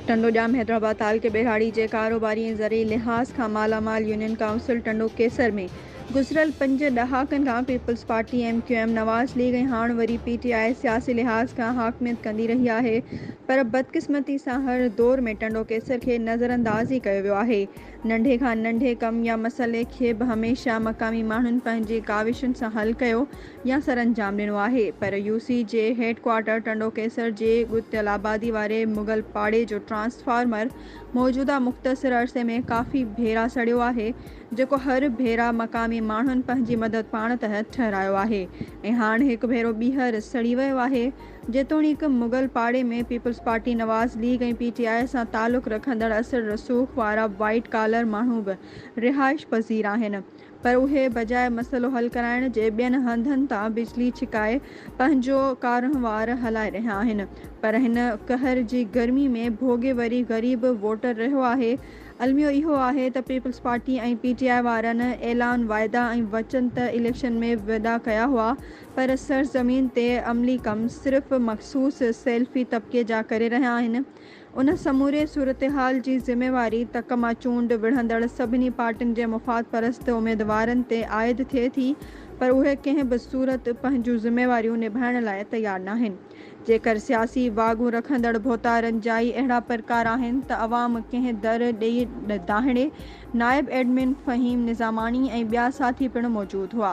ٽنڊو ڄام حيدرآباد تعلقي ٻهراڙي جي ڪاروباري ۽ زرعي لحاظ کان مالا مال يونين ڪائونسل ٽنڊو ڪيسر ۾ گذريل پنج ڏهاڪن کان Peoples Party, M Q M, Nawaz League ۽ هاڻ وري پي ٽي آء سياسي لحاظ کان حاڪميت ڪندي رهي آهي پر بدقسمتي سان هر دور ۾ ٽنڊو ڪيسر کي نظرانداز ئي ڪيو ويو آهي. ننڍي کان ننڍي ڪم يا مسئلي کي به هميشه مقامي ماڻهن پنهنجي ڪاوشن سان حل ڪيو يا سرانجام ڏنو آهي پر يو سي جي هيڊ ڪوارٽر ٽنڊو ڪيسر جي ڳتيل آبادي واري مغل پاڙي جو ٽرانسفارمر موجوده مختصر عرصي ۾ ڪافي ڀيرا سڙيو آهي جيڪو هر ڀيرا مقامي ماڻهن پنهنجي مدد پاڻ تحت ٺهرايو آهي ۽ هاڻ هڪ ڀيرو ٻيهر سڙي ويو آهي جيتوڻيڪ مغل پاڙي ۾ Peoples Party Nawaz League ۽ P T I سان تعلق رکندڙ اثر رسوخ وارا وائيٽ ڪالر ماڻهو به رهائش پذير آهن پر اهي بجاء مسئلو حل ڪرائڻ جي ٻين هنڌن تان بجلي ڇڪائي پنهنجو ڪارونهوار هلائي رهيا آهن پر هن قهر جي گرمي ۾ ڀوڳي وري غريب ووٽر رهيو آهي الميو اهو آهي ته Peoples Party ۽ P T I وارن اعلان واعدا ۽ وچن ته اليڪشن ۾ وڏا ڪيا هئا پر سرزمين تي عملي ڪم صرف مخصوص سيلفي طبقي جا ڪري رهيا آهن ان سموري صورتحال جي ذميواري تڪ مان چونڊ وڙهندڙ سڀني پارٽين جي مفاد پرست اميدوارن تي عائد ٿئي ٿي پر اهي ڪنهن به صورت پنهنجون ذميواريون نڀائڻ لاء تيار ناهن. جيڪر سياسي واڳون رکندڙ ڀوتارن جائي اهڙا پرڪار آهن ته عوام ڪنهن در ڏئي دانهڙي نائب ايڊمن فهيم نظاماڻي ۽ ٻيا ساٿي پڻ موجود هئا.